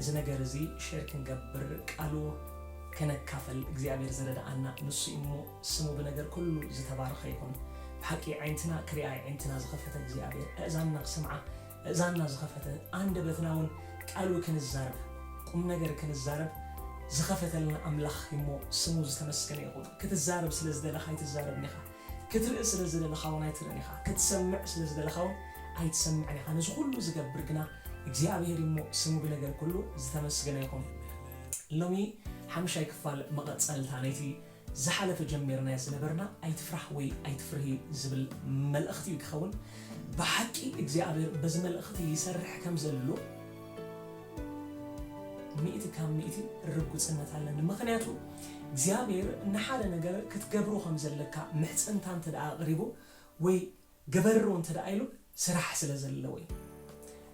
እዚ ነገር እዚ ሼር ክንገብር ቃሉ ከነካፈል እግዚኣብሔር ዝረደኣና ንሱ እዩ እሞ ስሙ ብነገር ኩሉ ዝተባረኸ ይኹን ብሓቂ ኣዒንትና ክሪኣ ኣዒንትና ዝኸፈተ እግዚኣብሔር ኣእዛንና ክሰምዓ ኣእዛንና ዝኸፈተ ኣንደበትና እውን ቃሉ ክንዛረብ ቁም ነገር ክንዛረብ ዝኸፈተልና ኣምላኽ እሞ ስሙ ዝተመስገነ ይኹን ክትዛረብ ስለ ዝደለኻ ኣይትዛረብን ኢኻ ክትርኢ ስለ ዝደለኻ ውን ኣይትርእን ኢኻ፣ ክትሰምዕ ስለ ዝደለኻ ውን ኣይትሰምዕን ኢኻ፣ ነዚ ኹሉ ዝገብር ግና እግዚኣብሄር እዩ እሞ ስሙ ብነገር ኩሉ ዝተመስገነ ይኹን። ሎሚ ሓምሻይ ክፋል መቐጸልታ ናይቲ ዝሓለፈ ጀሚርናዮ ዝነበርና ኣይትፍራህ ወይ ኣይትፍርሂ ዝብል መልእኽቲ እዩ ክኸውን። ብሓቂ እግዚኣብሄር በዚ መልእኽቲ ይሰርሕ ከም ዘሎ፣ ሚእቲ ካብ ሚእቲ ርጉጽነት ኣለኒ ምኽንያቱ እግዚኣብሔር ንሓደ ነገር ክትገብሮ ከም ዘለካ ምሕጽንታ እንተ ደኣ ኣቕሪቡ ወይ ግበሮ እንተ ደኣ ኢሉ ስራሕ ስለ ዘለዎ እዩ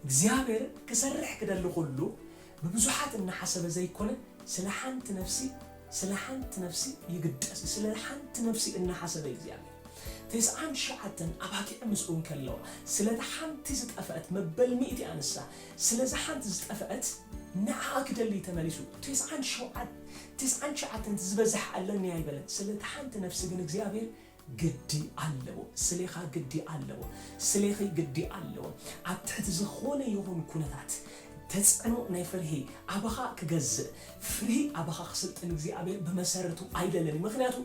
እግዚኣብሔር ክሰርሕ ክደሊ ኩሉ ብብዙሓት እናሓሰበ ዘይኮነ ስለ ሓንቲ ነፍሲ ስለ ሓንቲ ነፍሲ ይግደስ ስለ ሓንቲ ነፍሲ እናሓሰበ እዩ እግዚኣብሔር ተስዓን ትሽዓተን ኣባጊዕ ምስኡ እንከለዋ ስለታ ሓንቲ ዝጠፍአት መበል ሚእቲ ኣንሳ ስለዛ ሓንቲ ዝጠፈኣት ንዓኣ ክደሊ እዩ ተመሊሱ ትስዓን ትስዓን ትሽዓተን ዝበዝሕ ኣለኒ ኣይበለን ስለታ ሓንቲ ነፍሲ ግን እግዚኣብሔር ግዲ ኣለዎ ስሌኻ ግዲ ኣለዎ ስሌኺ ግዲ ኣለዎ ኣብ ትሕቲ ዝኾነ ይኹን ኩነታት ተጽዕኖ ናይ ፍርሂ ኣባኻ ክገዝእ ፍርሂ ኣባኻ ክስልጥን እግዚኣብሔር ብመሰረቱ ኣይደልን እዩ ምክንያቱ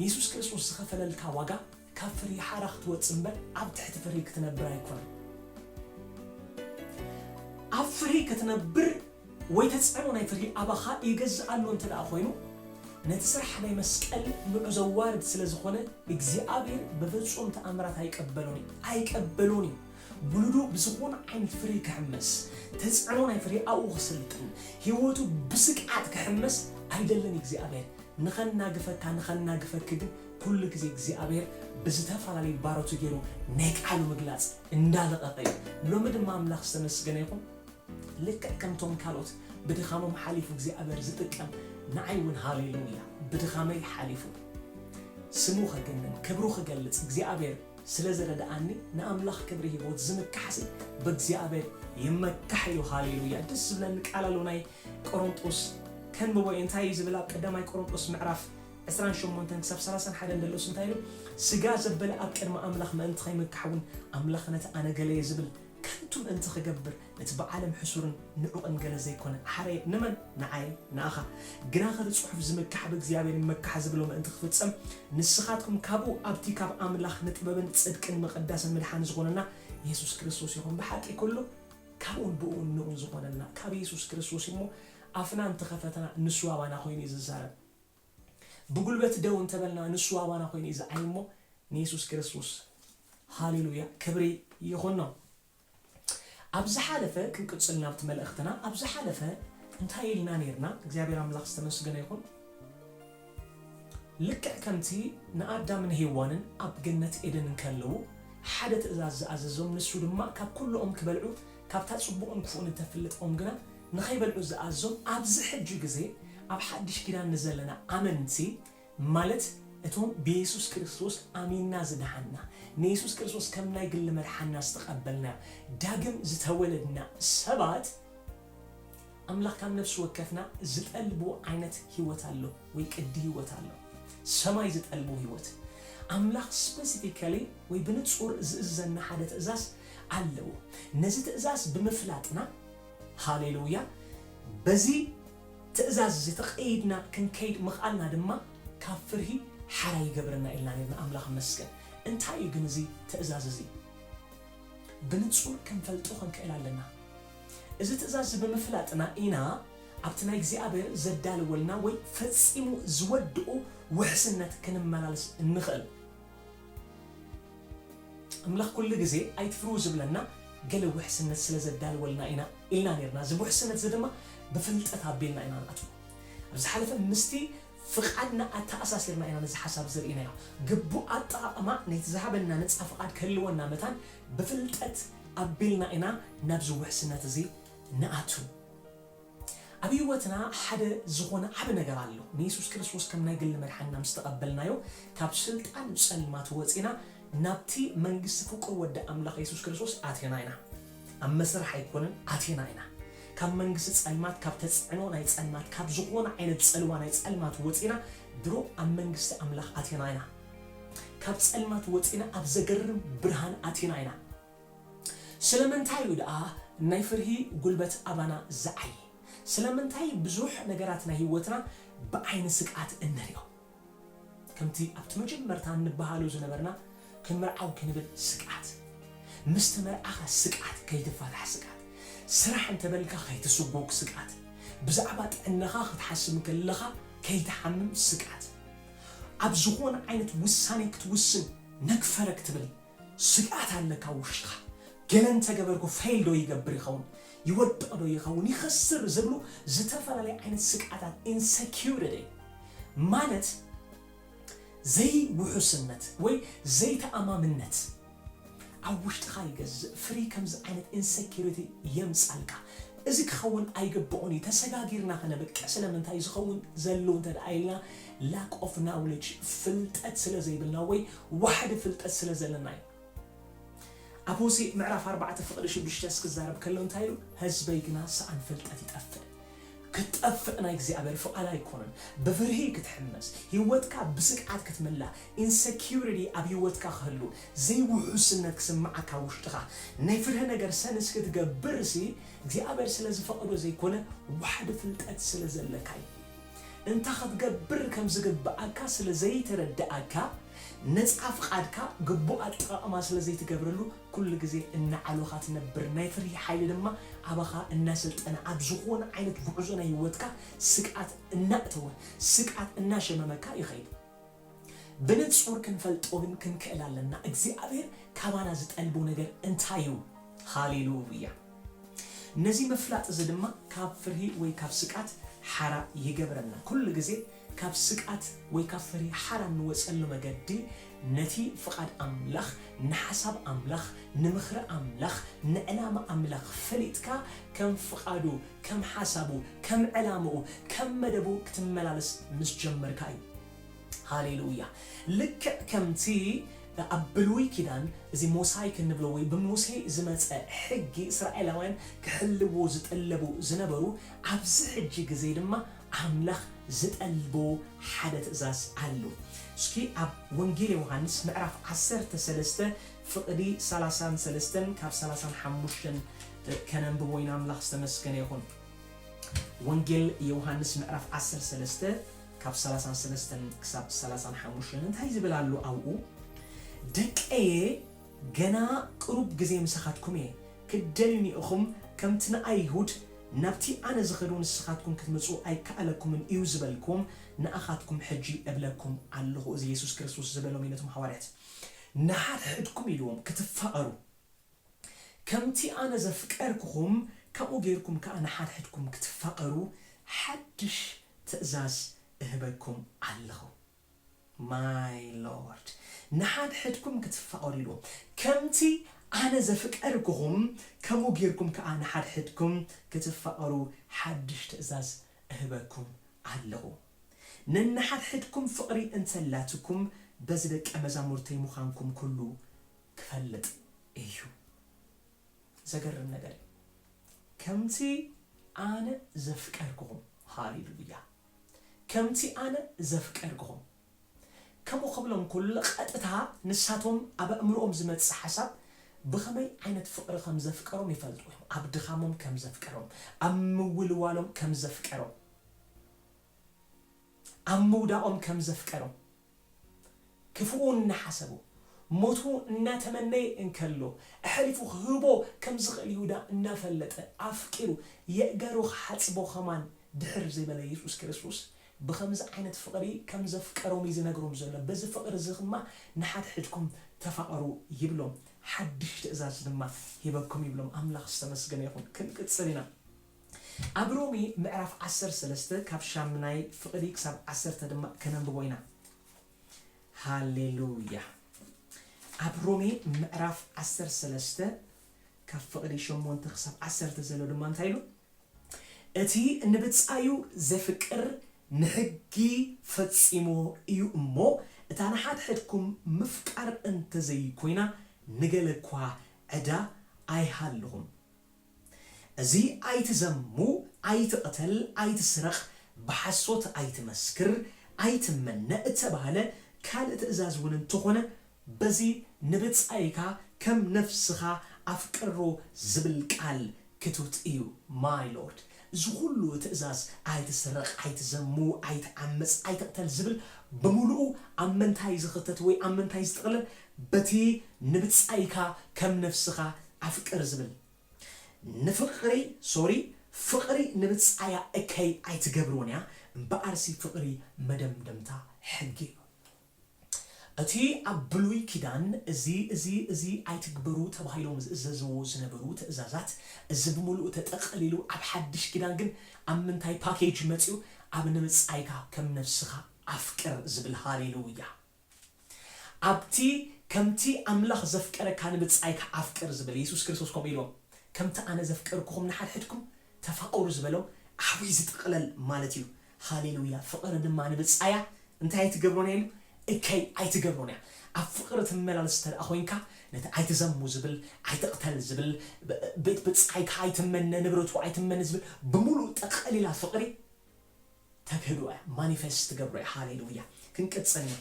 የሱስ ክርስቶስ ዝኸፈለልካ ዋጋ ካብ ፍርሂ ሓራ ክትወጽእ እምበር ኣብ ትሕቲ ፍርሂ ክትነብር ኣይኮነን። ኣብ ፍርሂ ክትነብር ወይ ተጽዕኖ ናይ ፍርሂ ኣባኻ ይገዝእ ኣሎ እንተ ደኣ ኮይኑ ነቲ ስራሕ ናይ መስቀል ንዑ ዘዋርድ ስለ ዝኾነ እግዚኣብሔር በፍጹም ተኣምራት ኣይቀበሎን እዩ ኣይቀበሎን እዩ ውሉዱ ብዝኾነ ዓይነት ፍርሂ ክሕመስ ተጽዕኖ ናይ ፍርሂ ኣብኡ ክስልጥን ሕይወቱ ብስቅዓት ክሕመስ ኣይደልን እግዚኣብሔር ንኸናግፈካ ንኸናግፈኪ ግን ኩሉ ግዜ እግዚኣብሔር ብዝተፈላለዩ ባሮቱ ገይሩ ናይ ቃሉ ምግላፅ እንዳለቐቐ እዩ። ሎሚ ድማ ኣምላኽ ዝተመስገነ ይኹን ልክዕ ከምቶም ካልኦት ብድኻሞም ሓሊፉ እግዚኣብሔር ዝጥቀም ንዓይ እውን ሃሌሉያ ብድኻመይ ሓሊፉ ስሙ ከግንን ክብሩ ክገልፅ እግዚኣብሔር ስለዝረድኣኒ ንኣምላኽ ክብሪ ሂቦት ዝምካሕሲ ብእግዚኣብሔር ይመካሕ ኢሉ ሃሌሉያ ደስ ዝብለኒ ቃል ኣሎ ናይ ቆሮንጦስ ከንብቦ እየ እንታይ እዩ ዝብል ኣብ ቀዳማይ ቆሮንጦስ ምዕራፍ ዕስራን ሸሞንተን ክሳብ ሰላሳን ሓደን ደሎስ እንታይ ኢሉ ስጋ ዘበለ ኣብ ቅድሚ ኣምላኽ ምእንቲ ከይምካሕውን ኣምላኽ ነቲ ኣነ ገለየ ዝብል ከንቱ ምእንቲ ክገብር ነቲ ብዓለም ሕሱርን ንዑቕን ገለ ዘይኮነ ሓረየ ንመን ንዓይ ንኣኻ ግናኸ እቲ ጽሑፍ ዝምካሕ ብእግዚኣብሔር ይመካሕ ዝብሎ ምእንቲ ክፍጸም ንስኻትኩም ካብኡ ኣብቲ ካብ ኣምላኽ ንጥበብን ጽድቅን ምቕዳስን ምድሓን ዝኾነና የሱስ ክርስቶስ ኢኹም ብሓቂ ኩሉ ካብኡን ብእኡን ንኡን ዝኾነና ካብ የሱስ ክርስቶስ እዩ እሞ ኣፍና እንተኸፈትና ንሱ ኣባና ኮይኑ እዩ ዝዛረብ። ብጉልበት ደው እንተበልና ንሱ ኣባና ኮይኑ እዩ ዝዓይ እሞ ንየሱስ ክርስቶስ ሃሌሉያ ክብሪ ይኹኖ። ኣብ ዝሓለፈ ክንቅጽል ናብቲ መልእኽትና ኣብ ዝሓለፈ እንታይ ኢልና ነይርና? እግዚኣብሔር ኣምላኽ ዝተመስገነ ይኹን። ልክዕ ከምቲ ንኣዳምን ሄዋንን ኣብ ገነት ኤደን እንከለዉ ሓደ ትእዛዝ ዝኣዘዞም ንሱ ድማ ካብ ኩሉ ኦም ክበልዑ ካብታ ጽቡቕን ክፉእን እተፍልጥ ኦም ግና ንኸይበልዑ ዝኣዞም ኣብዚ ሕጂ ግዜ ኣብ ሓድሽ ኪዳን ንዘለና ኣመንቲ ማለት እቶም ብየሱስ ክርስቶስ ኣሚንና ዝደሓንና ንየሱስ ክርስቶስ ከም ናይ ግሊ መድሓንና ዝተቀበልና ዳግም ዝተወለድና ሰባት ኣምላኽ ካብ ነፍሲ ወከፍና ዝጠልቦ ዓይነት ሂወት ኣሎ ወይ ቅዲ ሂወት ኣሎ ሰማይ ዝጠልቦ ሂወት ኣምላኽ ስፐሲፊካሊ ወይ ብንጹር ዝእዝዘና ሓደ ትእዛዝ ኣለዎ ነዚ ትእዛዝ ብምፍላጥና ሃሌሉያ! በዚ ትእዛዝ እዚ ተቐይድና ክንከይድ ምኽኣልና ድማ ካብ ፍርሂ ሓራ ይገብረና ኢልና ነይርና። ኣምላኽ ይመስገን! እንታይ እዩ ግን እዚ ትእዛዝ እዚ? ብንጹር ክንፈልጦ ክንክእል ኣለና። እዚ ትእዛዝ እዚ ብምፍላጥና ኢና ኣብቲ ናይ እግዚኣብሔር ዘዳለወልና ወይ ፈጺሙ ዝወድኦ ውሕስነት ክንመላለስ እንኽእል። ኣምላኽ ኩሉ ግዜ ኣይትፍርሁ ዝብለና ገለ ውሕስነት ስለ ዘዳልወልና ኢና ኢልና ኔርና። እዚ ውሕስነት'ዚ ድማ ብፍልጠት ኣቢልና ኢና ንኣትዎ። ኣብ ዝሓለፈ ምስቲ ፍቓድና ኣተኣሳሲርና ኢና ነዚ ሓሳብ'ዚ ርኢናዮ። ግቡእ ኣጠቓቕማ ናይቲ ዝሃበና ነጻ ፍቓድ ክህልወና መታን ብፍልጠት ኣቢልና ኢና ናብዚ ውሕስነት'ዚ ንኣቱ። ኣብ ህይወትና ሓደ ዝኾነ ዓቢ ነገር ኣሎ። ንየሱስ ክርስቶስ ከም ናይ ግሊ መድሓኒና ምስ ተቐበልናዮ፣ ካብ ስልጣን ጸልማት ወጺእና ናብቲ መንግስቲ ፍቁር ወዲ ኣምላኽ የሱስ ክርስቶስ ኣቲና ኢና። ኣብ መስርሕ ኣይኮነን፣ ኣቲና ኢና። ካብ መንግስቲ ጸልማት፣ ካብ ተጽዕኖ ናይ ጸልማት፣ ካብ ዝኾነ ዓይነት ጽልዋ ናይ ጸልማት ወጺእና ድሮ ኣብ መንግስቲ ኣምላኽ ኣቲና ኢና። ካብ ጸልማት ወጺእና ኣብ ዘገርም ብርሃን ኣቲና ኢና። ስለምንታይ እዩ ደኣ ናይ ፍርሂ ጕልበት ኣባና ዝዓዪ? ስለምንታይ ብዙሕ ነገራት ናይ ህይወትና ብዓይኒ ስግኣት እንርእዮ? ከምቲ ኣብቲ መጀመርታ እንበሃሎ ዝነበርና፣ ክንምርዓው ክንብል ስግኣት፣ ምስ ተመርዓኻ ስግኣት፣ ከይትፋታሕ ስግኣት፣ ስራሕ እንተ በልካ ከይትስጕግ ስግኣት፣ ብዛዕባ ጥዕናኻ ክትሓስብ እንከለኻ ከይትሓምም ስግኣት፣ ኣብ ዝዀነ ዓይነት ውሳኔ ክትውስን ነግፈረግ ትብል። ስግኣት ኣለካ ውሽጥኻ ገለ እንተገበርኩ ፌል ዶ ይገብር ይኸውን ይወድቕ ዶ ይኸውን ይኸስር ዝብሉ ዝተፈላለዩ ዓይነት ስግኣታት ኢንሰኪዩሪቲ ማለት ዘይውሑስነት ወይ ዘይተኣማምነት ኣብ ውሽጥኻ ይገዝእ ፍሪ ከምዚ ዓይነት ኢንሰኪዩሪቲ የምጻልካ እዚ ክኸውን ኣይግብኦን እዩ ተሰጋጊርና ከነብቅዕ ስለምንታይ ዝኸውን ዘሉ እንተድኣ ኢልና Lack of knowledge ፍልጠት ስለ ዘይብልና ወይ ዋሕዲ ፍልጠት ስለ ዘለና እዩ። ኣብ ሆሴእ ምዕራፍ ኣርባዕተ ፍቕዲ ሽዱሽተስ ክዛረብ ከሎ እንታይ ኢሉ ህዝበይ ግና ሰኣን ፍልጠት ይጠፍእ ክትጠፍእ ናይ እግዚኣብሔር ፍቓድ ኣይኮነን ብፍርሂ ክትሕመስ ህይወትካ ብስግኣት ክትምላእ ኢንሰኪዩሪቲ ኣብ ህይወትካ ክህሉ ዘይውሑስነት ክስምዓካ ኣብ ውሽጥኻ ናይ ፍርሂ ነገር ሰንስ ክትገብርሲ እግዚኣብሔር ስለ ዝፈቐዶ ዘይኮነ ዋሕዲ ፍልጠት ስለ ዘለካ እዩ። እንታይ ኸትገብር ከም ዚግብኣካ ስለ ዘይተረድኣካ፣ ነጻ ፍቓድካ ግቡእ ኣጠቓቕማ ስለ ዘይትገብረሉ፣ ኵሉ ግዜ እናዓሎኻ ትነብር፣ ናይ ፍርሂ ሓይሊ ድማ ኣባኻ እናሰልጠነ፣ ኣብ ዝዀነ ዓይነት ጕዕዞ ናይ ህይወትካ ስግኣት እናእተወ፣ ስግኣት እናሸመመካ ይኸይድ። ብንጹር ክንፈልጦምን ክንክእል ኣለና እግዚኣብሔር ካባና ዝጠልቦ ነገር እንታይ እዩ ሃሌሉያ ነዚ ምፍላጥ እዚ ድማ ካብ ፍርሂ ወይ ካብ ስቃት ሓራ ይገብረና ኩሉ ግዜ ካብ ስቃት ወይ ካብ ፍርሂ ሓራ እንወጸሉ መገዲ ነቲ ፍቃድ ኣምላኽ ንሓሳብ ኣምላኽ ንምኽሪ ኣምላኽ ንዕላማ ኣምላኽ ፈሊጥካ ከም ፍቃዱ ከም ሓሳቡ፣ ከም ዕላምኡ፣ ከም መደቡ ክትመላለስ ምስ ጀመርካ እዩ። ሃሌ ሉያ! ልክዕ ከምቲ ኣብ ብሉይ ኪዳን እዚ ሞሳይክ እንብሎ ወይ ብሙሴ ዝመጸ ሕጊ እስራኤላውያን ክሕልዎ ዝጥለቡ ዝነበሩ ኣብዚ ሕጂ ግዜ ድማ ኣምላኽ ዝጠልቦ ሓደ ትእዛዝ ኣሎ። እስኪ ኣብ ወንጌል ዮውሃንስ ምዕራፍ ዓሰርተ ሰለስተ ፍቅዲ ሰላሳን ሰለስተን ካብ ሰላሳን ሓሙሽተን ከነንብቦ ኢና ኣምላኽ ዝተመስገነ ይኹን ወንጌል የውሃንስ ምዕራፍ ዓሰርተ ሰለስተ ካብ ሰላሳን ሰለስተን ክሳብ ሰላሳን ሓሙሽተን እንታይ ዝብል ኣሎ ኣብኡ ደቀየ ገና ቅሩብ ግዜ ምሳኻትኩም እየ ክትደልዩኒ ኢኹም ከምቲ ንኣይሁድ ናብቲ ኣነ ዝኸዶ ንስኻትኩም ክትምጹ ኣይከኣለኩምን እዩ ዝበልክዎም ንኣኻትኩም ሕጂ እብለኩም ኣለኹ እዚ የሱስ ክርስቶስ ዝበሎም እዩ ነቶም ሓዋርያት ንሓድሕድኩም ኢልዎም ክትፋቐሩ ከምቲ ኣነ ዘፍቀርኩኹም፣ ከምኡ ገይርኩም ከኣ ንሓድሕድኩም ክትፋቐሩ፣ ሓድሽ ትእዛዝ እህበኩም ኣለኹ። My Lord! ንሓድሕድኩም ክትፋቐሩ ኢሉ። ከምቲ ኣነ ዘፍቀርኩኹም፣ ከምኡ ገይርኩም ከኣ ንሓድሕድኩም ክትፋቐሩ፣ ሓድሽ ትእዛዝ እህበኩም ኣለኹ። ነንሓድሕድኩም ፍቕሪ እንተላትኩም፣ በዚ ደቀ መዛሙርተይ ምዃንኩም ኩሉ ክፈልጥ እዩ ዘገርም ነገር እዩ ከምቲ ኣነ ዘፍቀርክኹም ሃሌ ሉያ ከምቲ ኣነ ዘፍቀርክኹም ከምኡ ክብሎም ከሎ ቐጥታ ንሳቶም ኣብ ኣእምርኦም ዝመጽእ ሓሳብ ብኸመይ ዓይነት ፍቕሪ ከም ዘፍቀሮም ይፈልጡ እዮም ኣብ ድኻሞም ከም ዘፍቀሮም ኣብ ምውልዋሎም ከም ዘፍቀሮም ኣብ ምውዳቖም ከም ዘፍቀሮም፣ ክፉኡ እናሓሰቡ፣ ሞቱ እናተመነየ እንከሎ፣ ኣሕሊፉ ክህቦ ከም ዝኽእል ይሁዳ እናፈለጠ፣ ኣፍቂሩ የእጋሩ ክሓጽቦ ከማን ድሕር ዘይበለ የሱስ ክርስቶስ፣ ብኸምዚ ዓይነት ፍቕሪ ከም ዘፍቀሮም እዩ ዝነግሮም ዘሎ። በዚ ፍቕሪ እዚ ኽማ ንሓድሕድኩም ተፋቐሩ ይብሎም። ሓድሽ ትእዛዝ ድማ ሂበኩም ይብሎም። ኣምላኽ ዝተመስገነ ይኹን። ክንቅጽል ኢና። ኣብ ሮሜ ምዕራፍ ዓሰርተ ሰለስተ ካብ ሻምናይ ፍቅዲ ክሳብ ዓሰርተ ድማ ከነንብቦ ኢና ሃሌሉያ ኣብ ሮሜ ምዕራፍ ዓሰርተ ሰለስተ ካብ ፍቅዲ ሸሞንተ ክሳብ ዓሰርተ ዘሎ ድማ እንታይ ኢሉ እቲ ንብጻዩ ዘፍቅር ንሕጊ ፈጺሞ እዩ እሞ እታ ንሓድሕድኩም ምፍቃር እንተዘይኮይና ንገለ እኳ ዕዳ ኣይሃልኹም እዚ ኣይትዘሙ ኣይትቕተል ኣይትስረቕ ብሓሶት ኣይትመስክር ኣይትመነ እተባህለ ካልእ ትእዛዝ እውን እንተኾነ በዚ ንብጻይካ ከም ነፍስኻ ኣፍቅሮ ዝብል ቃል ክቱት እዩ my lord እዚ ኩሉ ትእዛዝ ኣይትስረቕ ኣይትዘሙ ኣይትዓምጽ ኣይትቕተል ዝብል ብምሉኡ ኣብ ምንታይ ዝኽተት ወይ ኣብ ምንታይ ዝጥቕለል በቲ ንብጻይካ ከም ነፍስኻ ኣፍቅር ዝብል ንፍቅሪ ሶሪ ፍቅሪ ንብጻያ እከይ ኣይትገብርዎን እያ እምበኣርሲ ፍቅሪ መደምደምታ ሕጊ እዩ እቲ ኣብ ብሉይ ኪዳን እዚ እዚ እዚ ኣይትግበሩ ተባሂሎም ዝእዘዝዎ ዝነበሩ ትእዛዛት እዚ ብምሉኡ ተጠቀሊሉ ኣብ ሓድሽ ኪዳን ግን ኣብ ምንታይ ፓኬጅ መጽዩ ኣብ ንብጻይካ ከም ነብስካ ኣፍቅር ዝብል ሃሌሉያ ኣብቲ ከምቲ ኣምላኽ ዘፍቀረካ ንብጻይካ ኣፍቅር ዝብል የሱስ ክርስቶስ ከምኡ ኢልዎም ከምቲ ኣነ ዘፍቀርኩኹም ንሓድሕድኩም ተፋቐሩ ዝበሎም ዓቢ ዝጥቕለል ማለት እዩ ሃሌሉያ ፍቕሪ ድማ ንብጻያ እንታይ ኣይትገብሮን እያ ኢሉ እከይ ኣይትገብሮን እያ ኣብ ፍቕሪ ትመላለስ እንተደኣ ኮይንካ ነቲ ኣይትዘሙ ዝብል ኣይትቕተል ዝብል ቤት ብጻይካ ኣይትመነ ንብረቱ ኣይትመነ ዝብል ብምሉኡ ጠቐሊላ ፍቕሪ ተግህዶ እያ ማኒፈስት ትገብሮ እያ ሃሌሉያ ክንቅጽል ኢና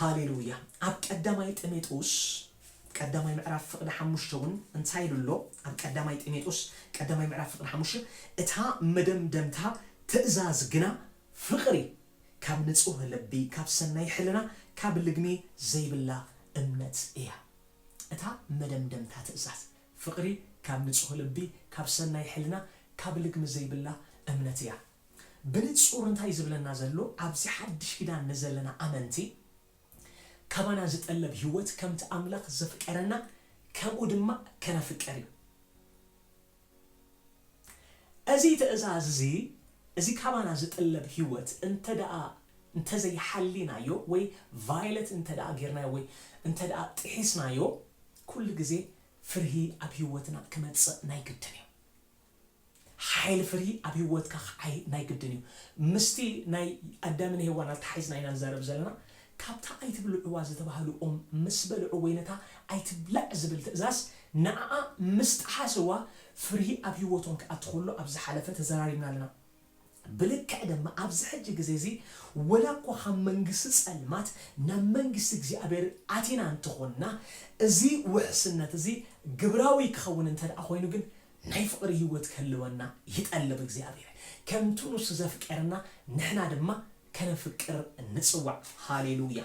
ሃሌሉያ ኣብ ቀዳማይ ጢሜጦስ ቀዳማይ ምዕራፍ ፍቅዲ ሓሙሽተ ውን እንታይ ኢሉ ኣሎ ኣብ ቀዳማይ ጢሜጦስ ቀዳማይ ምዕራፍ ፍቅዲ ሓሙሽተ እታ መደምደምታ ትእዛዝ ግና ፍቅሪ ካብ ንጹህ ልቢ ካብ ሰናይ ሕልና ካብ ልግሚ ዘይብላ እምነት እያ እታ መደምደምታ ትእዛዝ ፍቕሪ ካብ ንጹህ ልቢ፣ ካብ ሰናይ ሕልና፣ ካብ ልግሚ ዘይብላ እምነት እያ። ብንጹር እንታይ እዩ ዝብለና ዘሎ ኣብዚ ሓድሽ ኪዳን ንዘለና ኣመንቲ ካባና ዝጠለብ ህይወት ከምቲ ኣምላኽ ዘፍቀረና ከምኡ ድማ ከነፍቅር እዩ። እዚ ትእዛዝ እዚ እዚ ካባና ዝጥለብ ህይወት እንተደኣ እንተዘይሓሊናዮ ወይ ቫይለት እንተደኣ ጌርናዮ ወይ እንተደኣ ጥሒስናዮ፣ ኩሉ ግዜ ፍርሂ ኣብ ሂወትና ክመጽእ ናይ ግድን እዩ ሓይሊ ፍርሂ ኣብ ሂወትካ ክዓይ ናይ ግድን እዩ ምስቲ ናይ ኣዳምን ሄዋን ኣተሓሒዝና ኢና ንዛረብ ዘለና ካብታ ኣይትብልዕዋ ዝተባህሉ ኦም ምስ በልዑ ወይ ነታ ኣይትብላዕ ዝብል ትእዛዝ ንዓኣ ምስ ጠሓስዋ ፍርሂ ኣብ ሂወቶም ክኣቲ ከሎ ኣብ ዝሓለፈ ተዘራሪብና ኣለና ብልክዕ ደማ ኣብዚ ሕጂ ግዜ እዚ ወላ እኳ ካብ መንግስቲ ጸልማት ናብ መንግስቲ እግዚኣብሔር ኣቲና እንተ ኾንና እዚ ውሕስነት እዚ ግብራዊ ክኸውን እንተደኣ ኮይኑ ግን ናይ ፍቕሪ ሕይወት ክህልወና ይጠልብ እግዚኣብሔር ከምቲ ንሱ ዘፍቀረና ንሕና ድማ ከነፍቅር ንጽዋዕ ሃሌሉያ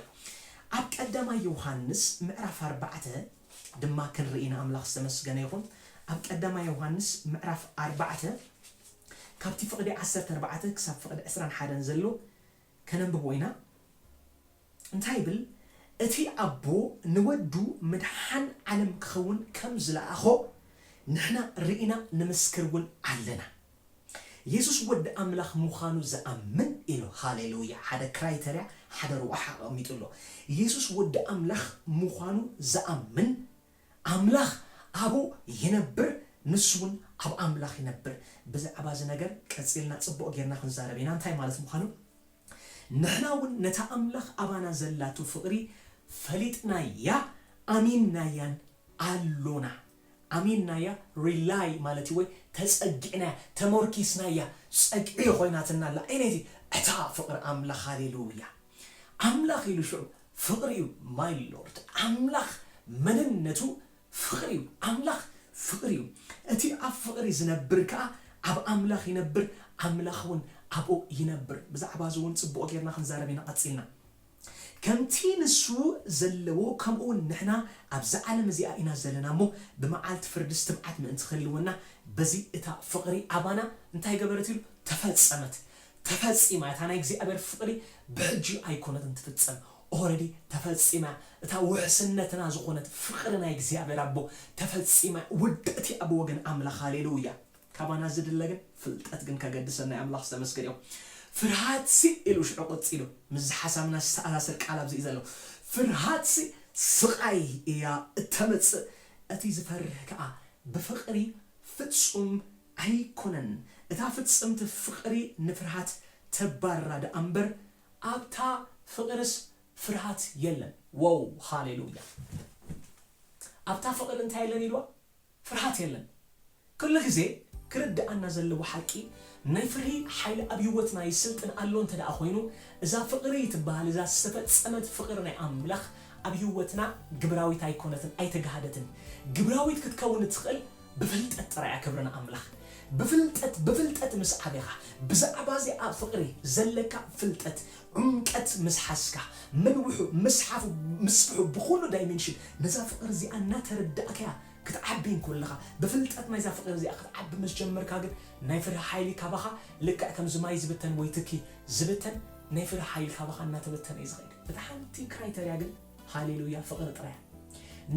ኣብ ቀዳማይ ዮውሃንስ ምዕራፍ ኣርባዕተ ድማ ክንርኢ ንኣምላኽ ዝተመስገነ ይኹን ኣብ ቀዳማይ ዮውሃንስ ምዕራፍ ኣርባዕተ ካብቲ ፍቕዲ ዓሰርተ ኣርባዕተ ክሳብ ፍቕዲ ዕስራን ሓደን ዘሎ ከነንብቦ ኢና። እንታይ ይብል? እቲ ኣቦ ንወዱ ምድሓን ዓለም ክኸውን ከም ዝለኣኾ ንሕና ርኢና ንምስክር እውን ኣለና። የሱስ ወዲ ኣምላኽ ምዃኑ ዝኣምን ኢሉ። ሃሌሉያ! ሓደ ክራይተርያ፣ ሓደ ረቛሒ ኣቐሚጡ ኣሎ። የሱስ ወዲ ኣምላኽ ምዃኑ ዝኣምን ኣምላኽ ኣብኡ ይነብር ንሱ ውን ኣብ ኣምላኽ ይነብር። ብዛዕባ እዚ ነገር ቀጺልና ጽቡቕ ጌርና ክንዛረብ ኢና እንታይ ማለት ምዃኑ። ንሕና ውን ነታ ኣምላኽ ኣባና ዘላቶ ፍቕሪ ፈሊጥናያ ኣሚንናያን ኣሎና። ኣሚንናያ rely ማለት እዩ ወይ ተጸጊዕናያ ተሞርኪስናያ ጸግዒ ኮይናትና ኣላ። ኣየነይቲ? እታ ፍቕሪ ኣምላኽ ሃሌሉያ። ኣምላኽ ኢሉ ሽዑ ፍቅሪ ዩ ማይ ሎርድ ኣምላኽ መንነቱ ፍቅሪ ዩ ኣምላኽ ፍቅሪ ዩ እቲ ኣብ ፍቅሪ ዝነብር ከኣ ኣብ ኣምላኽ ይነብር ኣምላኽ ውን ኣብኡ ይነብር ብዛዕባ እዚ ውን ጽቡቅ ጌርና ክንዛረብ ኢና ቀጺልና ከምቲ ንሱ ዘለዎ ከምኡ ውን ንሕና ኣብዛ ዓለም እዚኣ ኢና ዘለና እሞ ብመዓልቲ ፍርድስ ትብዓት ምእንቲ ክህልወና በዚ እታ ፍቅሪ ኣባና እንታይ ገበረት ኢሉ ተፈጸመት ተፈጺማ እታ ናይ እግዚኣብሔር ፍቅሪ ብሕጂ ኣይኮነትን ትፍጸም ኦረዲ ተፈጺማ እታ ውሕስነትና ዝኾነት ፍቅሪ ናይ እግዚኣብሔር ኣቦ ተፈጺማ ውድእት እያ ብወገን ኣምላኽ ሃሌሉያ ካባና ዝድለ ግን ፍልጠት ግን ከገድሰና እዩ ኣምላኽ ዝተመስገነ ይኹን ፍርሃትሲ ኢሉ ሽዑ ቀጺሉ ምስ ዝሓሳብና ዝተኣሳሰር ቃል ኣብዚ እዩ ዘሎ ፍርሃትሲ ስቃይ እያ እተምጽእ እቲ ዝፈርህ ከኣ ብፍቅሪ ፍጹም ኣይኮነን እታ ፍጽምቲ ፍቅሪ ንፍርሃት ተባርራ ደኣ እምበር ኣብታ ፍቅርስ ፍርሃት የለን ዎው ሃሌሉያ ኣብታ ፍቅሪ እንታይ የለን ኢልዋ ፍርሃት የለን ክሉ ግዜ ክርድኣና ዘለዎ ሓቂ ናይ ፍርሂ ሓይሊ ኣብ ሂወትና ይስልጥን ኣሎ እንተ ደኣ ኮይኑ እዛ ፍቅሪ ትበሃል እዛ ዝተፈጸመት ፍቅሪ ናይ ኣምላኽ ኣብ ሂወትና ግብራዊት ኣይኮነትን ኣይተጋህደትን ግብራዊት ክትከውን እትኽእል ብፍልጠት ጥራይ እያ ክብሪ ንኣምላኽ ብፍልጠት ብፍልጠት ምስ ዓቤኻ ብዛዕባ እዚኣ ፍቕሪ ዘለካ ፍልጠት ዑምቀት ምስ ሓዝካ ምንውሑ ምስሓፉ ምስፍሑ ብኹሉ ዳይሜንሽን ነዛ ፍቕሪ እዚኣ እናተረዳእካያ ክትዓቢ እንኮለኻ ብፍልጠት ናይዛ ፍቕሪ እዚኣ ክትዓቢ ምስ ጀመርካ ግን ናይ ፍርሂ ሓይሊ ካባኻ ልክዕ ከምዚ ማይ ዝብተን ወይ ትኪ ዝብተን ናይ ፍርሂ ሓይሊ ካባኻ እናተበተነ እዩ ዝኸይድ እታ ሓንቲ ክራይተርያ ግን ሃሌሉያ ፍቅሪ ጥራይ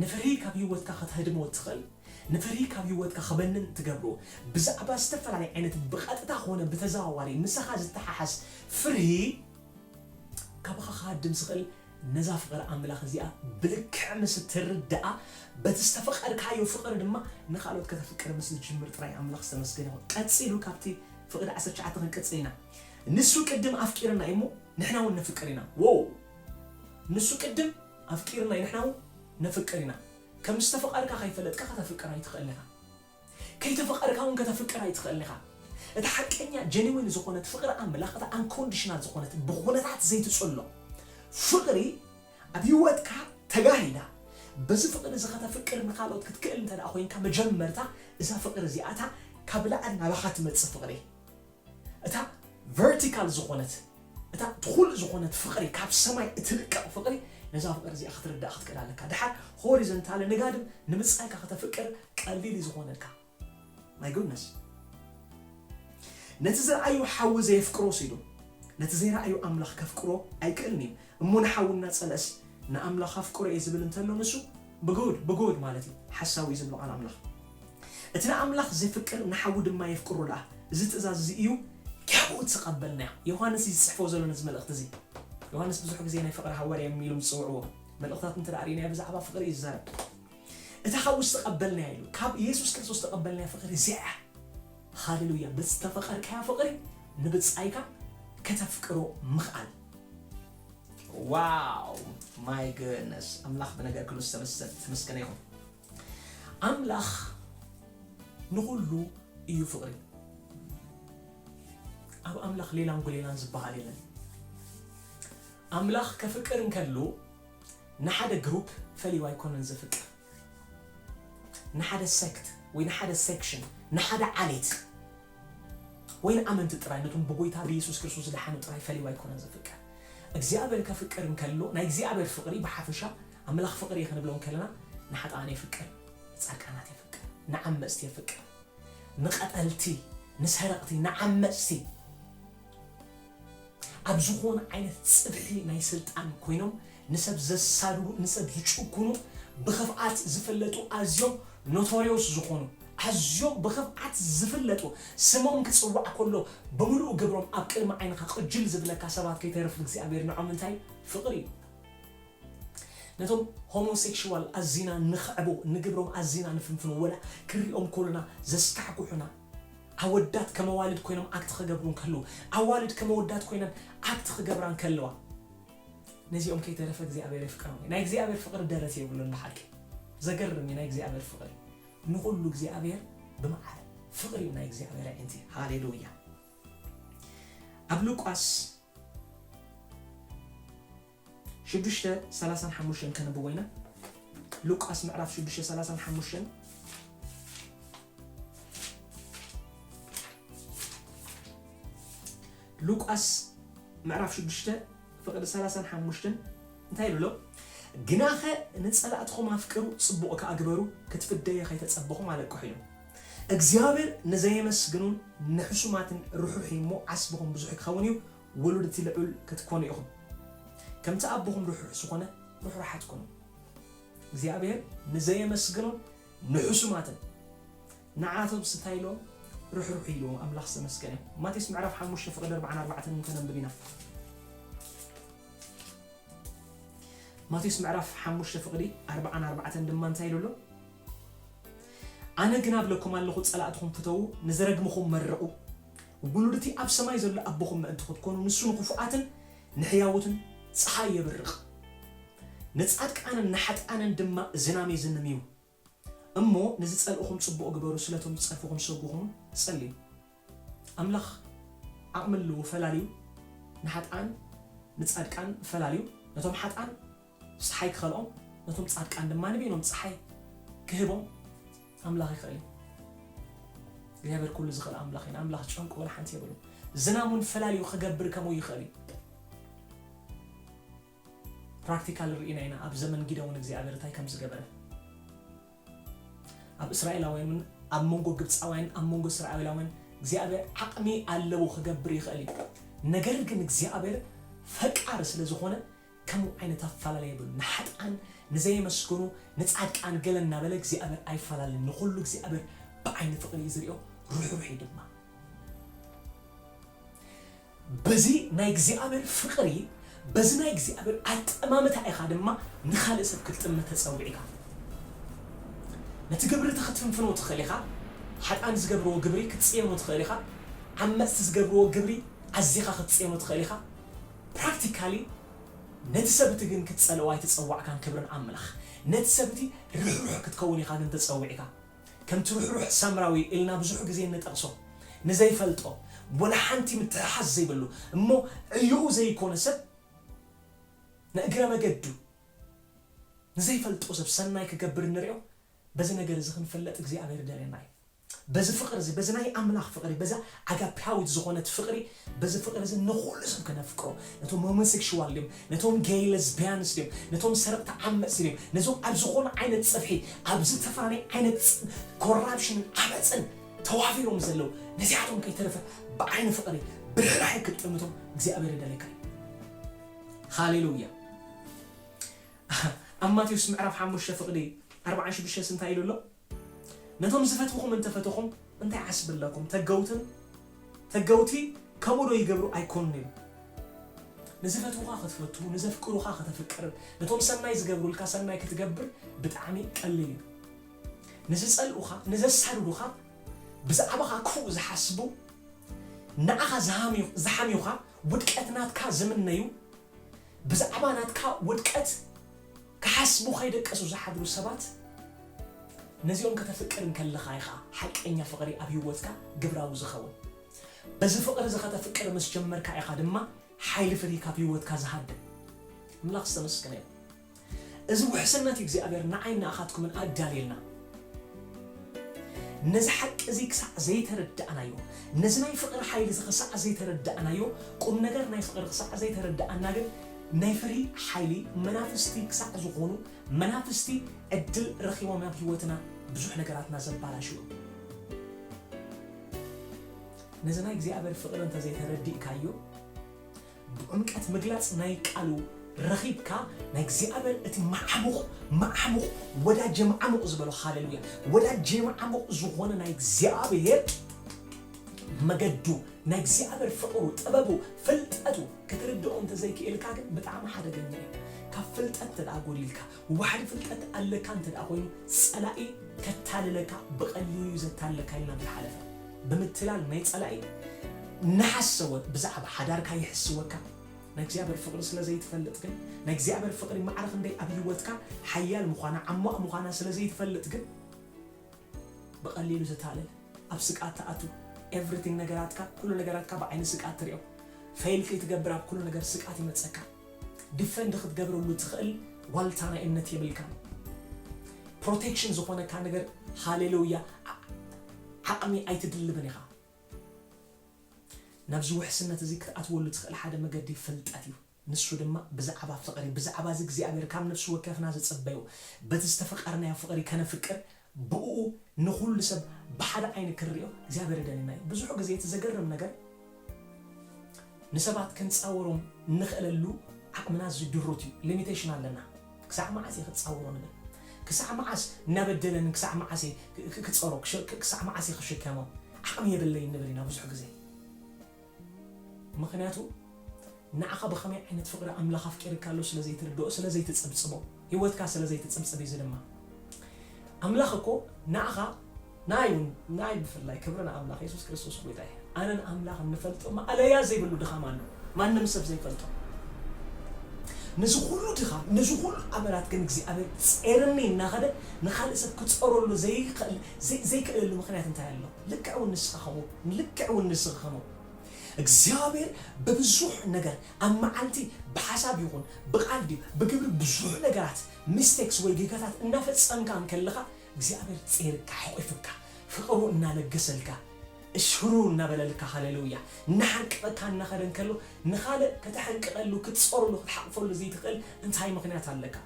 ንፍርሂ ካብ ሂወትካ ከተህድሞ እትክእል ንፍርሂ ካብ ሂወትካ ክበንን እትገብሮ ብዛዕባ ዝተፈላለየ ዓይነት ብቀጥታ ኮነ ብተዘዋዋሪ ምሳካ ዝተሓሓዝ ፍርሂ ካባካ ክሃድም ዝክእል ነዛ ፍቅሪ ኣምላክ እዚኣ ብልክዕ ምስ እትርዳኣ በቲ ዝተፈቀርካዮ ፍቅሪ ድማ ንካልኦት ከተፍቅር ምስ እትጅምር ጥራይ ኣምላክ ዝተመስገነ ይኩን ቀጺሉ ካብቲ ፍቅዲ ዓሰርተ ትሽዓተ ክንቅጽል ኢና ንሱ ቅድም ኣፍቂርና እዩ እሞ ንሕና ውን ነፍቅር ኢና ዎው ንሱ ቅድም ኣፍቂርናዩ ንሕና ውን ነፍቅር ኢና ከም ዝተፈቀርካ ከይፈለጥካ ከተፍቅር ኣይትክእልን ኢካ ከይተፈቀርካ ውን ከተፍቅር ኣይትክእልን ኢካ እታ ሓቀኛ ጀኒዊን ዝኮነት ፍቅሪ ኣምላክ እታ ኣንኮንድሽናል ዝኮነት ብኩነታት ዘይትጽሎ ፍቅሪ ኣብ ሂወትካ ተጋሂዳ በዚ ፍቅሪ እዚ ከተፍቅር ንካልኦት ክትክእል እንተ ኮይንካ መጀመርታ እዛ ፍቅሪ እዚኣታ ካብ ላዕሊ ናባካ ትመጽእ ፍቅሪ እታ ቨርቲካል ዝኾነት እታ ትኹል ዝኾነት ፍቕሪ ካብ ሰማይ እትልቀቕ ፍቕሪ ነዛ ፍቕሪ እዚኣ ክትርዳእ ክትክእል ኣለካ ደሓር ሆሪዘንታሊ ንጋድም ንምጻይካ ከተፍቅር ቀሊል እዩ ዝኾነልካ ማይ ጉድነስ ነቲ ዝረኣዩ ሓዊ ዘየፍቅሮ ሲዱ ነቲ ዘይረኣዩ ኣምላኽ ከፍቅሮ ኣይክእልን እዩ እሞ ንሓዊ እናጸልእስ ንኣምላኽ ኣፍቅሮ እየ ዝብል እንተሎ ንሱ ብጉድ ብጉድ ማለት እዩ ሓሳዊ እዩ ዝብሎ ቃል ኣምላኽ እቲ ንኣምላኽ ዜፍቅር ንሓዉ ድማ የፍቅሮ ደኣ፣ እዚ ትእዛዝ እዚ እዩ፣ ካብኡ እተቐበልናዮ። ዮሃንስ እዩ ዝጽሕፎ ዘሎ ነዚ መልእኽቲ እዚ። ዮሃንስ ብዙሕ ግዜ ናይ ፍቕሪ ሃዋርያ ኢሎም ዝጽውዕዎ። መልእኽታቱ እንተ ርኢናዮ ብዛዕባ ፍቕሪ እዩ ዝዛረብ። እታ ሓዊ ዝተቐበልናያ ኢሉ፣ ካብ የሱስ ክርስቶስ ዝተቐበልናያ ፍቕሪ እዚኣ እያ። ሃሌሉያ! ብዝተፈቐርካዮ ፍቕሪ ንብጻይካ ከተፍቅሮ ምኽኣል። ዋው ማይ ግድነስ ኣምላኽ ብነገር ክሉ ዝተመሰል ዝተመስገነ ይኹን። ኣምላኽ ንኹሉ እዩ ፍቕሪ። ኣብ ኣምላኽ ሌላን ጉሌላን ዝበሃል የለን። ኣምላኽ ከፍቅር እንከሎ ንሓደ ግሩፕ ፈሊዩ ኣይኮነን ዘፍቅር። ንሓደ ሴክት ወይ ንሓደ ሴክሽን፣ ንሓደ ዓሌት ወይ ንኣመንቲ ጥራይ፣ ነቶም ብጎይታ ብየሱስ ክርስቶስ ዝደሓኑ ጥራይ ፈሊዩ ኣይኮነን ዘፍቅር። እግዚኣብሔር ከፍቅር እንከሎ ናይ እግዚኣብሔር ፍቕሪ ብሓፈሻ ኣምላኽ ፍቕሪ እዩ ክንብሎም ከለና ንሓጥኣን የፍቅር፣ ንጻድቃናት የፍቅር፣ ንዓመጽቲ የፍቅር፣ ንቐተልቲ፣ ንሰረቕቲ፣ ንዓመጽቲ፣ ኣብ ዝኾነ ዓይነት ጽፍሒ ናይ ስልጣን ኮይኖም ንሰብ ዘሳድዱ፣ ንሰብ ዝጭኩኑ፣ ብኽፍኣት ዝፍለጡ ኣዝዮም ኖቶርዮስ ዝኾኑ፣ ኣዝዮም ብኽፍኣት ዝፍለጡ፣ ስሞም ክጽዋዕ ከሎ ብምሉእ ግብሮም ኣብ ቅድሚ ዓይንኻ ቅጅል ዝብለካ ሰባት ከይተርፍ እግዚኣብሄር ንዖም እንታይ ፍቕሪ እዩ። ነቶም ሆሞሴክሹዋል ኣዚና ንኽዕቦ፣ ንግብሮም ኣዚና ንፍንፍኖ፣ ወላ ክንሪኦም ከሎና ዘስካሕኩሑና፣ ኣወዳት ከም ኣዋልድ ኮይኖም ኣክት ክገብሩ እንከለዉ፣ ኣዋልድ ከም ኣወዳት ኮይነን ኣክት ክገብራ እንከለዋ፣ ነዚኦም ከይተረፈ እግዚኣብሔር የፍቅሮም እዩ። ናይ እግዚኣብሔር ፍቅሪ ደረት የብሉን ብሓቂ። ዘገርም እዩ ናይ እግዚኣብሔር ፍቅሪ። ንኹሉ እግዚኣብሔር ብማዕረ ፍቅሪ እዩ ናይ እግዚኣብሔር ኣዒንቲ። ሃሌሉያ። ኣብ ሉቃስ ሽዱሽተ ሰላሳን ሓሙሽተን ከንብቦ ኢና፣ ሉቃስ ምዕራፍ ሽዱሽተ ሰላሳን ሓሙሽተን፣ ሉቃስ ምዕራፍ ሽዱሽተ ፍቕዲ ሰላሳን ሓሙሽተን እንታይ ኢሉ ኣሎ? ግናኸ ንጸላእትኹም ኣፍቅሩ፣ ጽቡቕ ከኣ ግበሩ፣ ክትፍደዩ ኸይተጸበኹም ኣለቅሑ ኢሉ። እግዚኣብሔር ንዘየመስግኑን ንሕሱማትን ርሑሕ እዩ እሞ ዓስብኹም ብዙሕ ክኸውን እዩ፣ ወለድቲ ልዑል ክትኮኑ ኢኹም ከምቲ ኣቦኹም ርሑሕ ዝኾነ ርሕሩሓት ኩኑ። እግዚኣብሔር ንዘየመስግኖም ንሕሱማትን ንዓቶም ስታይ ኢሎም ርሕሩሕ ኢሉ ኣምላኽ ዝተመስገነ ይኹን። ማቴዎስ ምዕራፍ ሓሙሽተ ፍቅዲ ኣርብዓን ኣርባዕተን እንተነንብብ ኢና ማቴዎስ ምዕራፍ ሓሙሽተ ፍቅዲ ኣርብዓን ኣርባዕተን ድማ እንታይ ኢሉ ኣሎ? ኣነ ግና እብለኩም ኣለኹ ጸላእትኹም ፍተዉ ንዝረግምኹም መርቁ ውሉድቲ ኣብ ሰማይ ዘሎ ኣቦኹም ምእንቲ ኽትኰኑ፣ ንሱ ንኽፉኣትን ንሕያዎትን ጸሓይ የብርቕ፣ ንጻድቃንን ንሓጥኣንን ድማ ዝናም የዝንም እዩ። እሞ ንዚጸልእኹም ጽቡቕ ግበሩ፣ ስለ እቶም ዚጸርፍኹም ሰጉ ኹኑ ጸልዩ። ኣምላኽ ዓቕሚ ኣለዎ፣ ፈላልዩ ንሓጥኣን ንጻድቃን ፈላልዩ፣ ነቶም ሓጥኣን፣ ጸሓይ ክኸልኦም ነቶም ጻድቃን ድማ ንበይኖም ጸሓይ ክህቦም ኣምላኽ ይኽእል እዩ። እግዚኣብሔር ኩሉ ዝኽእል ኣምላኽ እዩ። ንኣምላኽ ጨንቁ ወላ ሓንቲ የብሉን። ዝናም እውን ፈላልዩ ክገብር ከምኡ ይኽእል እዩ። ፕራክቲካል ርኢና ኢና ኣብ ዘመን ጊደውን እግዚኣብሔር እንታይ ከም ዝገበረ ኣብ እስራኤላውያን እውን ኣብ መንጎ ግብፃውያን ኣብ መንጎ እስራኤላውያን እግዚኣብሔር ዓቕሚ ኣለዎ ክገብር ይኽእል እዩ። ነገር ግን እግዚኣብሔር ፈቃር ስለ ዝኾነ ከምኡ ዓይነት ኣፋላላይ የብሉን ንሓጥኣን ንዘየመስገኑ ንጻድቃን ገለ እናበለ እግዚኣብሔር ኣይፋላልን ንኹሉ እግዚኣብሔር ብዓይኒ ፍቅሪ እዩ ዝሪኦ ርሕሩሕ እዩ ድማ በዚ ናይ እግዚኣብሔር ፍቅሪ በዚ ናይ እግዚኣብሔር ኣጠማምታ ኢኻ ድማ ንኻልእ ሰብ ክትጥምት ተጸዊዕካ ነቲ ግብሪ እቲ ክትፍንፍኖ ትኽእል ኢኻ ሓጥኣን ዝገብርዎ ግብሪ ክትጽየኖ ትኽእል ኢኻ ዓመጽቲ ዝገብርዎ ግብሪ ኣዚኻ ክትጽየኖ ትኽእል ኢኻ Practically ነቲ ሰብ እቲ ግን ክትጸልኦ ኣይተጸዋዕካን ክብርን ኣምላኽ ነቲ ሰብ እቲ ርሕሩሕ ክትከውን ኢኻ ግን ተጸዊዕካ ከምቲ ርሕሩሕ ሳምራዊ ኢልና ብዙሕ ግዜ እንጠቕሶ ንዘይፈልጦ ወላ ሓንቲ ምትሕሓዝ ዘይብሉ እሞ ዕዮኡ ዘይኮነ ሰብ ንእግረ መገዱ ንዘይፈልጦ ሰብ ሰናይ ክገብር ንሪኦ በዚ ነገር እዚ ክንፍለጥ እግዚኣብሔር ይደልየና እዩ። በዚ ፍቕሪ እዚ፣ በዚ ናይ ኣምላኽ ፍቕሪ፣ በዛ ኣጋፔያዊት ዝኾነት ፍቕሪ፣ በዚ ፍቕሪ እዚ ንኹሉ ሰብ ከነፍቅሮ፣ ነቶም ሆሞሴክሹዋል ድዮም፣ ነቶም ጌይ ለዝቢያንስ ድዮም፣ ነቶም ሰረቕቲ ዓመጽቲ ድዮም፣ ነዞም ኣብ ዝኾነ ዓይነት ጽፍሒ፣ ኣብ ዝተፈላለየ ዓይነት ኮራፕሽንን ዓመጽን ተዋፊሮም ዘለዉ፣ ነዚኣቶም ከይተረፈ ብዓይኒ ፍቕሪ፣ ብርህራሄ ክትጥምቶም እግዚኣብሄር ይደልየካ እዩ። ሃሌሉያ! ኣብ ማቴዎስ ምዕራፍ ሓሙሽተ ፍቕዲ ኣርብዓን ሽዱሽተንስ እንታይ ኢሉ ኣሎ? ነቶም ዝፈትውኹም እንተፈተኹም እንታይ ዓስቢ ኣለኩም ተገውትን ተገውቲ ከምኡ ዶ ይገብሩ ኣይኮኑን ኢሉ ንዝፈትውኻ ክትፈቱ ንዘፍቅሩኻ ከተፍቅርን ነቶም ሰናይ ዝገብሩልካ ሰናይ ክትገብር ብጣዕሚ ቀሊል እዩ ንዝጸልኡኻ ንዘሳድዱኻ ብዛዕባኻ ክፉእ ዝሓስቡ ንዓኻ ዝሓምዩኻ ውድቀት ናትካ ዝምነዩ ብዛዕባ ናትካ ውድቀት ክሓስቡ ከይደቀሱ ዝሓድሩ ሰባት ነዚኦም ከተፍቅር እንከለኻ ኢኻ ሓቀኛ ፍቕሪ ኣብ ህይወትካ ግብራዊ ዝኸውን። በዚ ፍቕሪ እዚ ከተፍቅር ምስ ጀመርካ ኢኻ ድማ ሓይሊ ፍርሂ ካብ ህይወትካ ዝሃድም። ኣምላኽ ዝተመስገነ ይኹን እዚ ውሕስነት እግዚኣብሔር ንዓይን ንኣኻትኩምን ኣዳልየልና። ነዚ ሓቂ እዚ ክሳዕ ዘይተረዳእናዮ፣ ነዚ ናይ ፍቕሪ ሓይሊ እዚ ክሳዕ ዘይተረዳእናዮ፣ ቁም ነገር ናይ ፍቕሪ ክሳዕ ዘይተረዳእና ግን ናይ ፍርሂ ሓይሊ መናፍስቲ ክሳዕ ዝኾኑ መናፍስቲ ዕድል ረኺቦም ናብ ህይወትና ብዙሕ ነገራትና ዘባላሽው እዮም። ነዚ ናይ እግዚኣብሔር ፍቕሪ እንተዘይተረዲእካዮ፣ ብዕምቀት ምግላጽ ናይ ቃሉ ረኺብካ ናይ እግዚኣብሔር እቲ መዓሙቕ መዓሙቕ ወዳጄ መዓሙቕ ዝበሎ ሃሌሉያ ወዳጄ መዓሙቕ ዝኾነ ናይ እግዚኣብሔር መገዱ ናይ እግዚኣብሔር ፍቕሩ ጥበቡ ፍልጠቱ ክትርድኦ እንተዘይክኢልካ ግን ብጣዕሚ ሓደገኛ እዩ ካብ ፍልጠት እንተድኣ ጎዲልካ ዋሕዲ ፍልጠት ኣለካ እንተድኣ ኮይኑ ጸላኢ ከታልለካ ብቀሊሉ እዩ ዘታልለካ ኢልና እንተሓለፈ ብምትላል ናይ ጸላኢ እናሓሰወ ብዛዕባ ሓዳርካ ይሕስወካ ናይ እግዚኣብሔር ፍቅሪ ስለ ዘይትፈልጥ ግን ናይ እግዚኣብሔር ፍቅሪ ማዕረ ክንደይ ኣብ ሂወትካ ሓያል ምኳና ዓሟቅ ምኳና ስለ ዘይትፈልጥ ግን ብቀሊሉ ትታለል ኣብ ስቅኣት ትኣቱ ኤቭሪቲንግ ነገራትካ ኩሉ ነገራትካ ብዓይኒ ስቅኣት ትሪኦ ፌይል ከይትገብር ኣብ ኩሉ ነገር ስቅኣት ይመጸካ ዲፈንድ ክትገብረሉ ትክእል ዋልታ ናይ እምነት የብልካን ፕሮቴክሽን ዝኮነካ ነገር ሃሌሉያ ዓቅሚ ኣይትድልብን ኢካ ናብዚ ውሕስነት እዚ ክትኣትወሉ ትክእል ሓደ መገዲ ፍልጠት እዩ። ንሱ ድማ ብዛዕባ ፍቕሪ፣ ብዛዕባ እዚ እግዚኣብሔር ካብ ነፍሲ ወከፍና ዝጽበዮ፣ በቲ ዝተፈቀርናዮ ፍቕሪ ከነፍቅር፣ ብእኡ ንኹሉ ሰብ ብሓደ ዓይኒ ክንርእዮ እግዚኣብሔር ይደልየና እዩ። ብዙሕ ግዜ እቲ ዘገርም ነገር ንሰባት ክንጻወሮም እንኽእለሉ ዓቕምና ኣዝዩ ድሩት እዩ፣ limitation፣ ኣለና። ክሳዕ መዓስ እየ ክጻወሮ ንብል። ክሳዕ መዓስ እናበደለኒ ክሳዕ መዓስ እየ ክጸሮ፣ ክሳዕ መዓስ እየ ክሽከሞ፣ ዓቕሚ የብለይን ንብል ኢና ብዙሕ ግዜ። ምኽንያቱ ንዓኻ ብኸመይ ዓይነት ፍቕሪ ኣምላኽ ኣፍቂርካ ኣሎ ስለ ዘይትርድኦ ስለ ዘይትጽብጽቦ ህይወትካ ስለ ዘይትጽብጽብ እዩ እዚ ድማ ኣምላኽ እኮ ንዓኻ ንኣይ እውን ንኣይ ብፍላይ ክብሪ ንኣምላኽ የሱስ ክርስቶስ ጎይታ እዩ ኣነን ኣምላኽ እንፈልጦ ማእለያ ዘይብሉ ድኻም ኣሎ ማንም ሰብ ዘይፈልጦ ነዚ ኩሉ ድኻም ነዚ ኩሉ ኣመላት ግን እግዚኣብሔር ጼርኒ እናኸደ ንኻልእ ሰብ ክጸረሉ ዘይክእል ዘይክእለሉ ምኽንያት እንታይ ኣሎ ልክዕ ውን ንስኻ ከምኡ ንልክዕ ውን ንስኺ ከምኡ እግዚኣብሔር ብብዙሕ ነገር ኣብ መዓልቲ ብሓሳብ ይኹን ብቃል ድዩ ብግብሪ ብዙሕ ነገራት ሚስቴክስ ወይ ጌጋታት እናፈጸምካ እንከለኻ እግዚኣብሔር ጼርካ ሐቁፍካ ፍቅሩ እናለገሰልካ እሽሩር እናበለልካ ሃሌሉያ እናሓንቀቀካ እናኸደ እንከሎ ንኻልእ ከተሐንቅቀሉ ክትጾረሉ ክትሓቅፈሉ ዝይትኽእል እንታይ ምኽንያት ኣለካ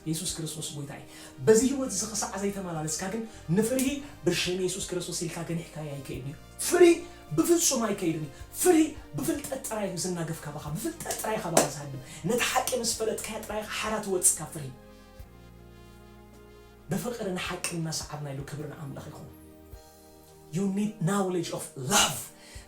የሱስ ክርስቶስ ጎይታ እዪ በዚ ሂወት እዚ ክሳዕ ዘይተመላለስካ ግን ንፍርሂ ብሽም የሱስ ክርስቶስ ኢልካ ገኒሕካዮ ኣይከይድን እዩ ፍርሂ ብፍጹም ኣይከይድን እዩ ፍርሂ ብፍልጠት ጥራይ እዩ ዝናገፍ ካባኻ ብፍልጠት ጥራይ ካባኻ ዝሃድም ነታ ሓቂ ምስ ፈለጥካያ ጥራይ ኢኻ ሓራ ትወጽእ ካብ ፍርሂ ብፍቅሪ ንሓቂ እናሰዓብና ኢሉ ክብሪ ንኣምላኽ ይኹን። You need knowledge of love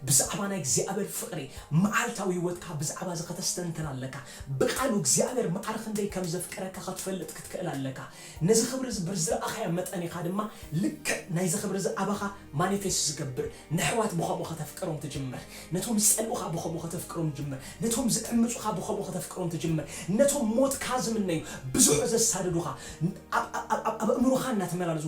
ብዛዕባ ናይ እግዚኣብሔር ፍቅሪ መዓልታዊ ህይወትካ ብዛዕባ እዚ ከተስተንትን ኣለካ ብቃሉ እግዚኣብሔር ማዕረ ክንደይ ከም ዘፍቅረካ ክትፈልጥ ክትክእል ኣለካ ነዚ ክብሪ እዚ ብርዝረኣካዮ መጠን ኢካ ድማ ልክዕ ናይዚ ክብሪ እዚ ኣባካ ማኒፌስት ዝገብር ነሕዋት ብከምኡ ከተፍቅሮም ትጅምር ነቶም ዝጸልኡካ ብከምኡ ከተፍቅሮም ትጅምር ነቶም ዝዕምጹካ ብከምኡ ከተፍቅሮም ትጅምር ነቶም ሞትካ ዝምነዩ ብዙሕ ዘሳድዱካ ኣብ ኣእምሮካ እናተመላለሱ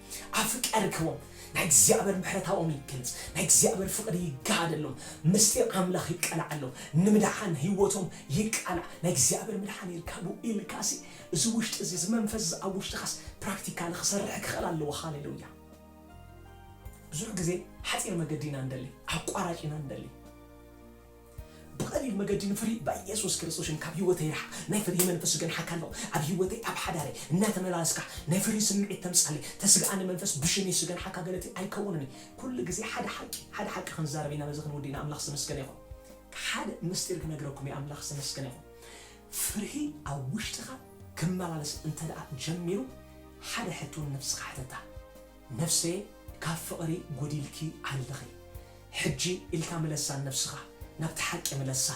ኣፍቀርክዎም ናይ እግዚኣብሔር ምሕረታኦም ይገልጽ ናይ እግዚኣብሔር ፍቅሪ ይጋሃደሎም ምስጢር ኣምላኽ ይቀላዓሎም ንምድሓን ህይወቶም ይቃላዕ ናይ እግዚኣብሔር ምድሓን ይርካቡ ኢልካሲ እዚ ውሽጢ እዚ እዚ መንፈስ እዚ ኣብ ውሽጥኻስ ፕራክቲካሊ ክሰርሕ ክኽእል ኣለዎ ሃሌሉያ ብዙሕ ግዜ ሓጺር መገዲ ኢና ንደሊ ኣቋራጭ ኢና ንደሊ ብቀሊል መገዲ ንፍርሂ ባየሱስ ክርስቶስ ሽም ካብ ሂወተይ ርሓቅ ናይ ፍርሂ መንፈስ ዝገንሓካ ኣሎ ኣብ ሂወተይ ኣብ ሓዳረይ እናተመላለስካ ናይ ፍርሂ ስምዒት ተምጻለይ ተስግኣኒ መንፈስ ብሽም የሱስ ዝገንሓካ ገለቲ ኣይከውንን እየ ኩሉ ግዜ ሓደ ሓቂ ሓደ ሓቂ ክንዛረብ ኢና በዚ ክንውዲእና ኣምላኽ ዝተመስገነ ይኹን ሓደ ምስጢር ክነግረኩም እየ ኣምላኽ ዝተመስገነ ይኹን ፍርሂ ኣብ ውሽጥኻ ክመላለስ እንተደኣ ጀሚሩ ሓደ ሕቶ ንነብስኻ ሕተታ ነፍሰየ ካብ ፍቅሪ ጎዲልኪ ኣለኺ ሕጂ ኢልካ ምለሳ ንነብስኻ ናብቲ ሓቂ ምለሳ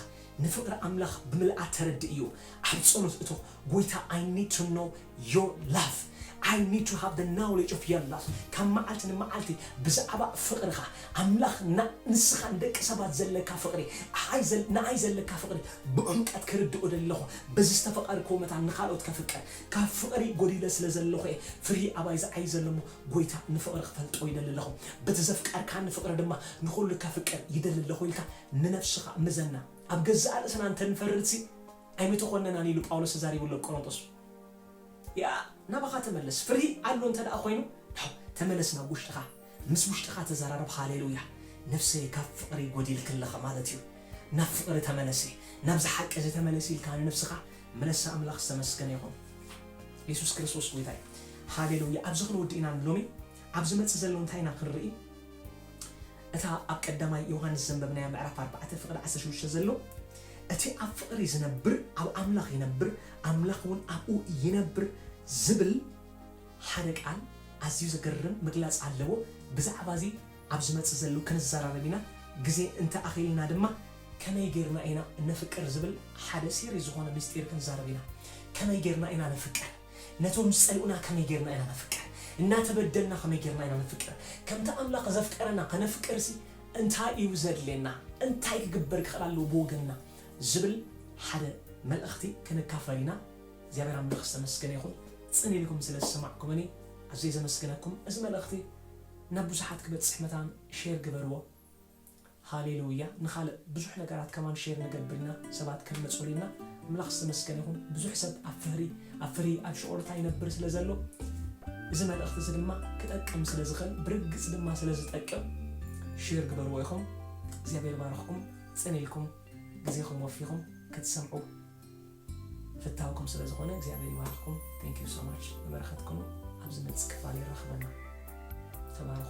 ንፍቅሪ ኣምላኽ ብምልኣ ተረድእዮ ኣብ ጸሎት እቶ ጎይታ I need to know your love I need to have the knowledge of your love ካብ መዓልቲ ንመዓልቲ ብዛዕባ ፍቅርኻ ኣምላኽ ን ንስኻ ንደቂ ሰባት ዘለካ ፍቅሪ ኣይ ዘል ንኣይ ዘለካ ፍቅሪ ብዑምቀት ክርድኦ እደሊ ኣለኹ በዚ ዝተፈቀርክዎ መታን ንኻልኦት ከፍቅር ካብ ፍቅሪ ጎዲለ ስለ ዘለኹ እየ ፍርሂ ኣባይ ዝዓዪ ዘሎ እሞ ጎይታ ንፍቅሪ ክፈልጦ ይደሊ ኣለኹ በቲ ዘፍቀርካኒ ፍቅሪ ድማ ንኹሉ ከፍቅር ይደሊ ኣለኹ ኢልካ ንነብስኻ ምዘና ኣብ ገዛእ ርእስና እንተ ንፈርድሲ ኣይምተኾነናን ኢሉ ጳውሎስ ተዛሪቡ ኣሎ ኣብ ቆሮንጦስ ያእ ናባኻ ተመለስ ፍርሂ ኣሎ እንተ ኮይኑ ተመለስ ናብ ውሽጥኻ። ምስ ውሽጥኻ ተዛራረብ ሃሌሉያ ነፍሰይ ካብ ፍቅሪ ጎዲልኪ ኣለኺ ማለት እዩ ናብ ፍቅሪ ተመለሲ ናብዚ ሓቂ እዚ ተመለሲ ኢልካ ንነብስኻ ምለሳ ኣምላኽ ዝተመስገነ ይኹን የሱስ ክርስቶስ ጎይታ እዩ ሃሌሉያ ኣብዚ ክንውድእ ኢና ንሎሚ ኣብ ዝመጽእ ዘሎ እንታይ ኢና ክንርኢ እታ ኣብ ቀዳማይ ዮሃንስ ዘንበብናያ ምዕራፍ ኣርባዕተ ፍቅዲ ዓሰርተ ሽዱሽተ ዘሎ እቲ ኣብ ፍቅሪ ዝነብር ኣብ ኣምላኽ ይነብር ኣምላኽ እውን ኣብኡ ይነብር ዝብል ሓደ ቃል ኣዝዩ ዘገርም ምግላጽ ኣለዎ ብዛዕባ እዚ ኣብ ዝመጽእ ዘሉ ክንዛራረብ ኢና ግዜ እንተ ኣኺልና ድማ ከመይ ጌርና ኢና እነፍቅር ዝብል ሓደ ሲሪስ ዝኾነ ምስጢር ክንዛረብ ኢና ከመይ ጌርና ኢና ነፍቅር ነቶም ዝጸልኡና ከመይ ጌርና ኢና ነፍቅር እናተበደልና ከመይ ጌርና ኢና ነፍቅር ከምቲ ኣምላኽ ዘፍቀረና ከነፍቅርሲ እንታይ እዩ ዘድልየና እንታይ ክግበር ክኽእል ኣለዎ ብወገንና ዝብል ሓደ መልእኽቲ ክንካፈል ኢና። እግዚኣብሔር ኣምላኽ ዝተመስገነ ይኹን ጽን ኢልኩም ስለ ዝሰማዕኩምኒ ኣዝየ ዘመስግነኩም እዚ መልእኽቲ ናብ ብዙሓት ክበጽሕ መታን ሼር ግበርዎ ሃሌሉያ ንኻልእ ብዙሕ ነገራት ከማን ሼር ንገብር ኢና ሰባት ከልመጹሉ ኢልና ኣምላኽ ዝተመስገነ ይኹን ብዙሕ ሰብ ኣብ ፍህሪ ኣብ ፍርሂ ኣብ ሽቅሎታ ይነብር ስለ ዘሎ እዚ መልእኽቲ እዚ ድማ ክጠቅም ስለ ዝኽእል ብርግጽ ድማ ስለ ዝጠቅም ሼር ግበርዎ ኢኹም እግዚኣብሔር ይባርኽኩም ጽን ኢልኩም ግዜኹም ወፊኹም ክትሰምዑ ፍታውኩም ስለ ዝኾነ እግዚኣብሔር ይባርኽኩም thank you so much ንበረኸት ኩኑ ኣብ ዝመጽእ ክፋል የራኽበና ተባረኹ